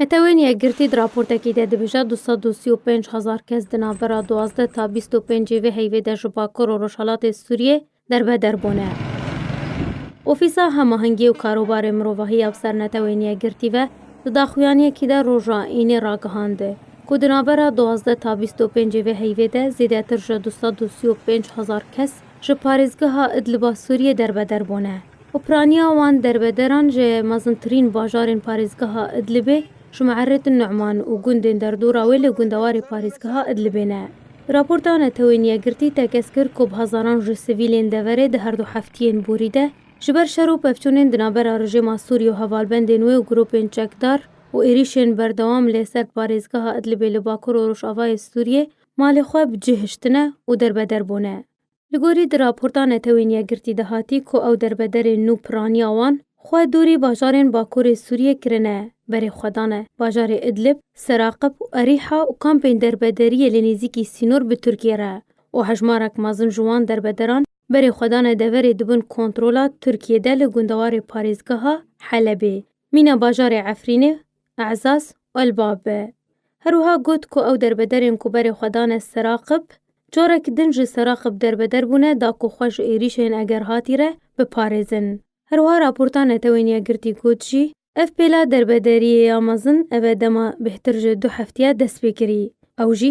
Netewên Yekgirtî di raportekî de dibêje du sed û sî û pênc hezar kes di navbera duwazdeh ta bîst û pênc ê vê heyvê de ji Bakur û Rojhilatê Sûriyê derbeder bûne. Ofîsa Hemahengî û Karobarê Mirovahî ya bi ser Netewên Yekgirtî ve di daxuyaniyekî de roja înê ragihand ku di navbera duwazdeh ta bîst û pênc ê vê heyvê de zêdetir ji du sed û sî û pênc hezar kes ji parêzgeha Idliba Sûriyê derbeder bûne û piraniya wan derbederan ji mezintirîn bajarên parêzgeha Idlibê ji Muerrit Numan û gundên derdora wê li gundewarê parêzgeha Idlibê ne. Raporta Netewên Yekgirtî tekez kir ku bi hezaran ji sivîlên deverê di herdu heftiyên borî de ji ber şer û pevçûnên di navbera rejêma Sûriyê û hevalbendên wê û grûpên çekdar û êrîşên berdewam lê ser parêzgeha Idlibê li bakur û rojavayê Sûriyê malê xwe bi cih hiştine û derbeder bûne. Li gorî di raporta Netewên Yekgirtî de hatî ku ew derbederên nû piraniya wan xwe dûrî bajarên bakurê Sûriyê kirine, berê xwe dane bajarê Idlib, Seraqib û Erîha û kampên derbederiyê li nêzîkî sînor bi Tirkiyê re û hejmarek mezin ji wan derbederan berê xwe dane deverê dibin kontrola Tirkiyê de li gundewarê parêzgeha Helebê Mîna bajarê Efrînê, Ezaz Elbab e. Her wiha got ku ew derbederên ku berê xwe dane Seraqib, carek din ji Seraqib derbeder bûne da ku xwe ji êrîşên Egerhatî re biparêzin. Her wiha raporta Netewên Yekgirtî got jî, ev pêla derbederiyê ya mezin eve dema bêhtir ji du heftîya dest pê kirî. Ew jî